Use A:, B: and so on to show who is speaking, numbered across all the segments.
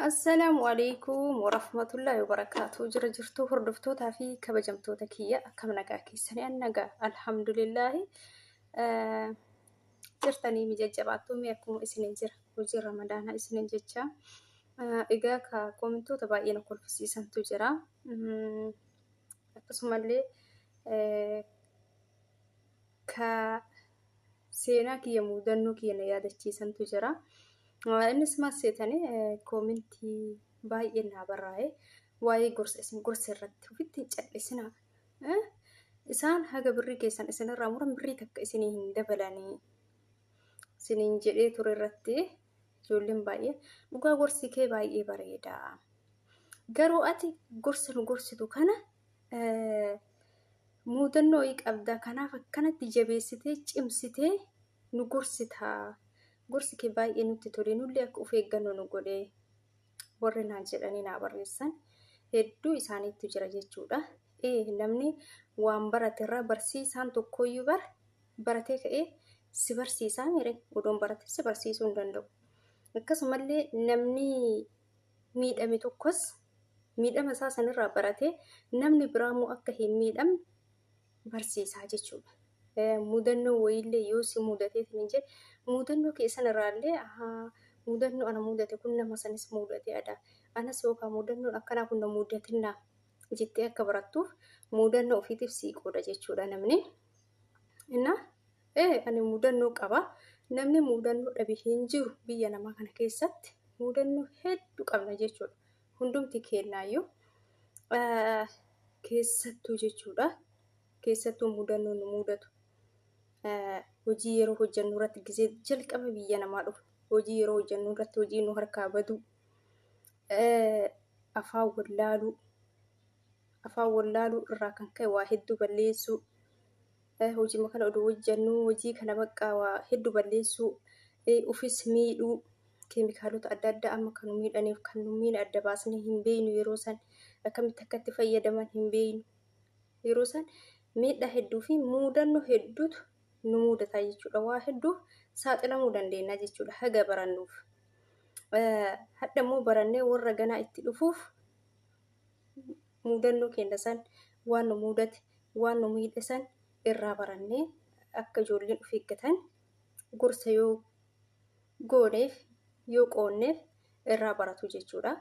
A: Assalaamu alaikum warahmatullahi wabarakatuh. Jira jirtuu hordoftootaa fi kabajamtoota kiyya akkam nagaa keessanii an nagaa alhamdulillahi Eh, jirtanii mi jajjabaattuu mi akkuma isiniin jira hojii ramadaanaa isiniin jecha Eh, egaa ka komentoota baay'ee na kolfisiisantu jira Mm, akkasumallee eh, ka seenaa kiyya mudannoo kiyya na yaadachiisantu jira. Ah, Innis maal seetani eh, koomentii baay'ee naa barraa'e waa'ee gorsa isin gorsa irratti ofitti hin callisina. Eh, Isaan haga birrii keessan isinirraa muran birrii takka isinii hin dabalanii. Isiniin jedhee ture irratti ijoolleen baay'ee dhugaa gorsi kee baay'ee bareeda. Garuu ati gorsa nu gorsitu kana muudannoo wayii qabda kanaaf akkanatti jabeessitee cimsitee nu gorsita gorsi kee baay'ee nutti tole nullee akka of eeggannoo nu godhe warri naan jedhanii naa barreessan hedduu isaaniitu jira jechuudha. Ee namni waan barate irraa barsiisaan tokkoyyuu bar baratee ka'ee si barsiisaa mire odoon barate si barsiisuu hin danda'u. Akkasumallee namni miidhame tokkos miidhama isaa sanirraa baratee namni biraa immoo akka hin miidhamne barsiisaa jechuudha. Mudannoo wayiillee yoo si mudatee hin jee mudannoo kee sanirraallee mudannoo ana mudate kun nama sanis mudatee ada anas yookaan mudannoon akkanaa kun na mudatinna jettee akka barattuuf mudannoo ofiitiif sii qooda jechuudha namni. Innaa ee ani mudannoo qaba. Namni mudannoo dhabe hin jiru biyya namaa kana keessatti. Mudannoo hedduu qabna jechuudha. Hundumti keenyaayyuu keessattuu jechuudha. Keessattuu mudannoo nu mudatu. Hojii yeroo hojjennu irratti gisee jalqaba biyya namaa dhufu. Hojii yeroo hojjennu irratti hojii nu harkaa baduu. Afaan wallaaluu. afaan wallaaluu irraa kan ka'e waa hedduu balleessuu eh, hojima kana oduu hojjannuu hojii kana baqqaa waa hedduu balleessuu eh, ufis miidhuu keemikaalota adda addaa amma kan nu miidhaniif kan nu miine adda baasnee hin beeynu yeroo san akkamitti akka itti fayyadaman hin beeynu yeroo san miidhaa hedduu fi muudannoo hedduutu nu muudataa jechuudha waa hedduuf saaxilamuu dandeenya jechuudha haga barannuuf. Eh, hadha immoo barannee warra ganaa itti dhufuuf muudannoo keenya san waan nu muudate waan nu miidhe san irraa barannee akka ijoolleen of eeggatan gorsa yoo gooneef yoo qoonneef irraa baratu jechuudha.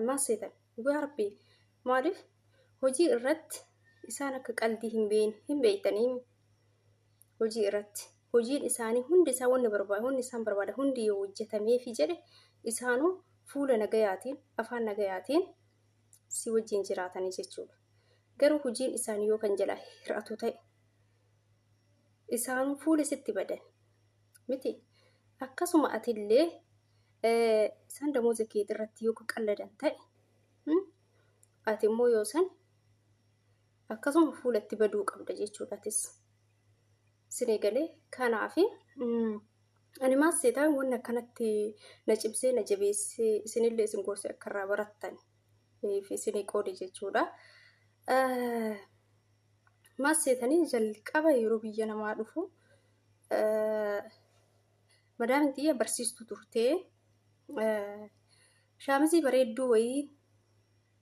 A: Maal seetan dhugaa rabbii maaliif hojii irratti isaan akka qaldii hin beekne hin beektanii hojii irratti hojiin isaanii hundi isaa wanni barbaada hundi isaan barbaada hundi yoo hojjetameefi jedhe isaanuu fuula nagayaatiin afaan nagayaatiin si wajjin jiraatanii jechuudha. Garuu hojiin isaanii yoo kan jalaa hir'atu ta'e isaanuu fuula sitti badan miti akkasuma atillee isaan damooza keetii irratti yoo qalladan ta'e ati immoo yoo san akkasuma fuulatti baduu qabda jechuudha atis sin eegalee kanaafi ani maas seetaan wanni akkanatti na cimsee na jabeessee isinillee isin gorse akka irraa barattan fi isin qoode jechuudha. Maas seetanii jalqaba yeroo biyya namaa dhufu madaamin xiyya barsiistu turtee shaamizii bareedduu wayii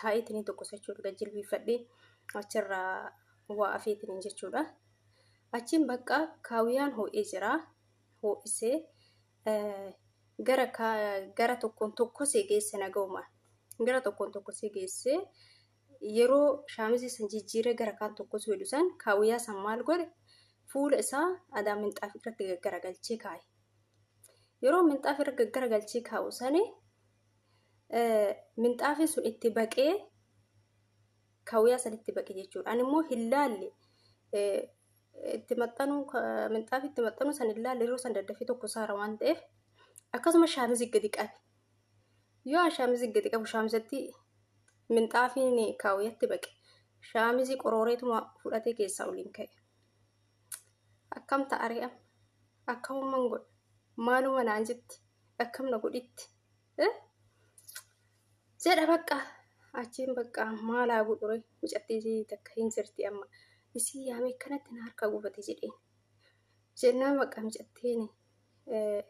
A: taa'eetiin tokko jechuudha gad jilbiifadhee achirraa waa afeetiin jechuudha. Achiin bakka kaawiyaan hoo'ee jira hoo'isee gara gara tokkoon tokkosee geesse naga'uma gara tokkoon tokkosee geesse yeroo shaamizii san jijjiiree gara kaan tokkosuu jedhu san kaawiyyaa san maal godhe fuula isaa adaa minxaaf irratti gaggaragalchee kaa'e. Yeroo minxaaf irra gaggaragalchee kaa'u sani minxaafiin sun itti baqee kawiyaa san itti baqe jechuudha. Ani immoo hin laalle itti maxxanuu minxaafi itti maxxanuu san hin laalle yeroo san daddafee tokko saara waan ta'eef akkasuma shaamizi gadi qabe. Yoo an shaamizi gadi qabu shaamizatti minxaafiin kaawiyatti baqe shaamizi qorooreetuma fudhatee keessaa oliin ka'e. Akkam ta'aree amma? Akkamumman godha? Maaluma naan jetti? Akkam na godhitti? Eh? Jedha bakka. Achiin bakka maal haa godhure? Mucattii takka hin jirti amma. Isii yaamee kanatti na harka gubate jedheen. Jennaan bakka mucattiin eh,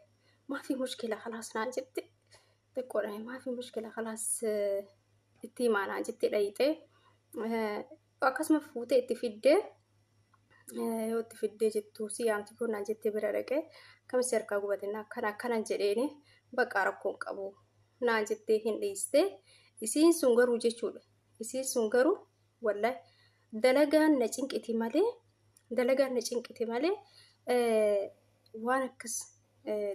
A: maafi mushkila kalaas naan jetti. Xiqqoodhaan maafi mushkila kalaas eh, itti himaa naan jetti dhayxee. Eh, akkasuma fuutee itti fiddee yoo itti fiddee jettu si yaamti kun naan jettee bira dhaqee akkamitti harkaa gubatinna akkana akkanan jedheeni baqaa rakkoon qabu naan jettee hin dhiiste isiin sun garuu jechuudha isiin sun garuu wallahi dalagaan na cinqiti malee dalagaan na cinqiti malee waan akkas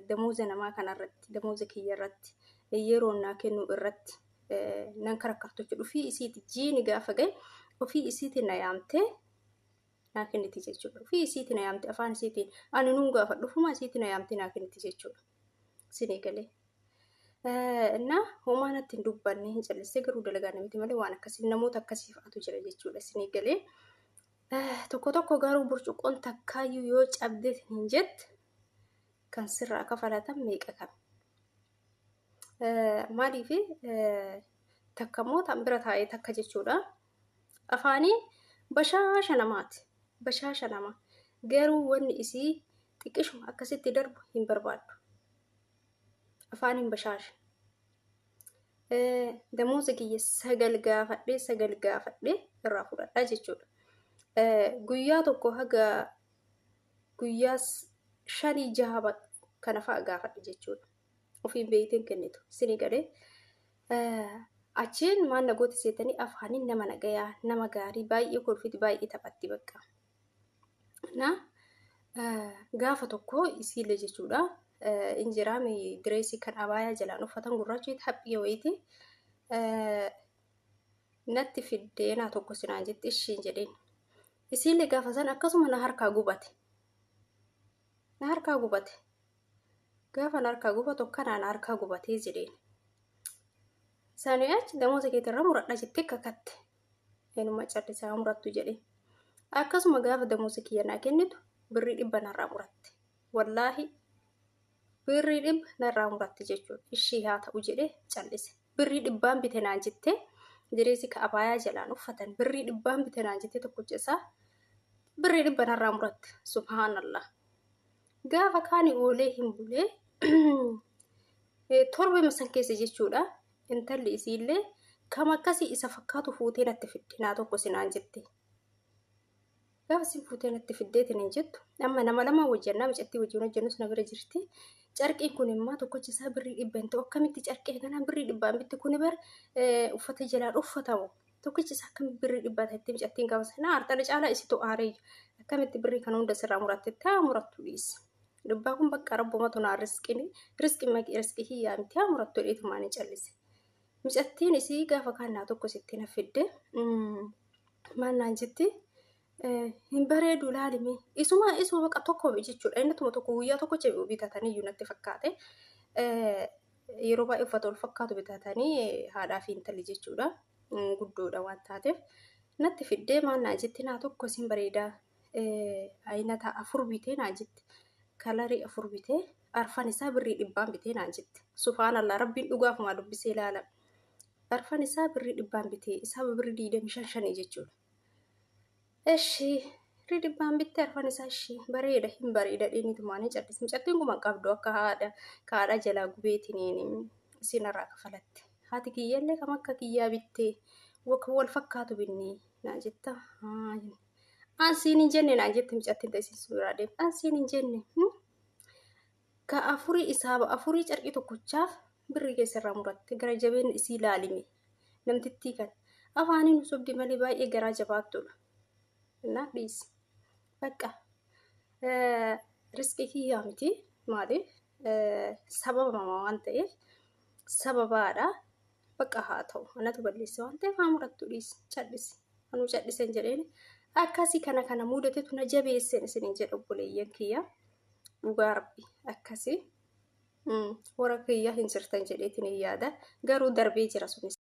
A: damooza namaa kanarratti damooza kiyya irratti yeroo naa kennuu irratti nan karakkartuchi dhufii isiiti jiini gaafa gahe ofii isiiti na yaamtee naa kenniti jechuudha. Ofii isiiti na yaamte afaan isiitiin ani nuun gaafa dhufuma isiiti na yaamte naa kenniti jechuudha. Sinii galee. Innaa homaa natti hin dubbanne hin callissee garuu dalagaa namiti malee waan akkasii namoota akkasii fa'atu jira jechuudha. Sinii galee. Tokko tokko garuu burcuqqoon takkaayyuu yoo cabdeet hin jette kan sirraa kafalatan meeqa kan. Maaliif takka immoo tan bira taa'ee takka jechuudha. Afaanii bashaasha namaati. Bashaasha nama. Garuu wanni isii xiqqishuma akkasitti darbu hin barbaaddu. Afaaniin bashaasha. Damooza kiyya sagal gaafadhee sagal gaafadhee irraa fudhadhaa jechuudha. Guyyaa tokko haga guyyaa shanii jaha kana fa'a gaafadhe jechuudha. Ofiin beeyteen kennitu isinii galee achiin maal nagooti seetanii afaaniin nama nagayaa nama gaarii baay'ee kolfiti baay'ee taphatti bakka. Na gaafa tokko isiillee jechuudha injiraa direesii kan abaayaa jalaan uffatan gurraacheeti haphii wayiiti natti fiddeenaa tokko sinaan jetti ishiin jedheen. Isiillee gaafa san akkasuma na harkaa gubate. Na harkaa gubate. Gaafa na harkaa gubatu akkanaa na harkaa gubatee jedheen. Sanii achi damooza keetirra muradha jettee kakatte. Eenyummaa callisaa murattu jedhee. Akkasuma gaafa damooza kiyya naa kennitu birrii dhibba narraa muratte. Wallaahi Birrii dhibba narraa muratte jechuudha. Ishii haa ta'u jedhee callise. Birrii dhibbaan bite naan jettee jireessi ka abaayaa jalaan uffatan birrii dhibbaan bite naan jettee tokkocha isaa birrii dhibba narraa muratte. Subhaanallah. Gaafa kaani oolee hin bulee torba masan keessa jechuudha. Intalli isiillee kam akkasii isa fakkaatu fuutee natti fidde naa tokko sinaan jette. Gaafa isin fuutee natti fiddee tiniin jettu amma nama lama hojjannaa mucattii wajjin hojjannus na bira jirti. Carqiin kun immoo tokkochi isaa birrii dhibba hin ta'u akkamitti carqee kanaan birrii dhibbaan bitti kun bar uffata jalaan uffatamu. Tokkichi isaa akkamitti birrii dhibbaa ta'etti mucattiin gaafa sana aartana caalaa isitu aareyyu. Akkamitti birrii kana hunda sirraa muratte taa murattu dhiisi. Dhibbaa kun bakka rabbumatu naa risqini risqi maqi risqi hiyyaa miti haa murattu dheetumaan hin callise. Micattiin isii gaafa kaannaa tokko isitti na fidde maannaan jetti hin bareedu laalimi isuma isuma baqa tokko jechuudha inni tuma tokko guyyaa tokko jedhu bitatanii iyyuu natti fakkaate yeroo baay'ee uffata wal fakkaatu bitatanii haadhaa fi intalli jechuudha guddoodha waan taateef natti fiddee maannaa jetti naa tokko isin bareedaa ayinata afur bitee naa jetti kalarii afur bitee Arfan isaa birrii dhibbaan bitee naan jette. Subhaanallah rabbiin dhugaafumaa dubbisee laala. Arfan isaa birrii dhibbaan bitee isaa birrii diidamii shan shanii jechuudha. Eshi birrii dhibbaan bitte arfan isaa ishii bareeda hin bareeda dheeniitumaanii callis mucattiin kuma qabdu akka haadha kaadha jalaa gubeetiniin isin irraa kafalatte. Haati kiyyaallee kam akka kiyyaa bittee kan wal fakkaatu binnee naan jetta. Haayi. Ansiin hin jenne naan jette mucattiin ta'e isin suuraa deemte. Ansiin hin jenne. Hmm? ka afurii isaaba afurii carqii tokkochaaf birrii keessa irraa muratte gara jabeen isii laalime namtittii kan afaanii nu sobdi malee baay'ee garaa jabaattuudha innaa dhiisi bakka risqii kiyyaa miti maaliif sababama waan ta'eef sababaadha Bakka haa ta'u. Anatu balleesse waan ta'eef haa murattu dhiisi. Cal'isi. Anuu cal'iseen jedheen akkasii kana kana mudatetu na jabeesseen isiniin jedha obboleeyyan kiyya. Dhugaa rabbi akkasii. Warra kiyya hin jirtan jedheetiin hin yaada. Garuu darbee jira sunis.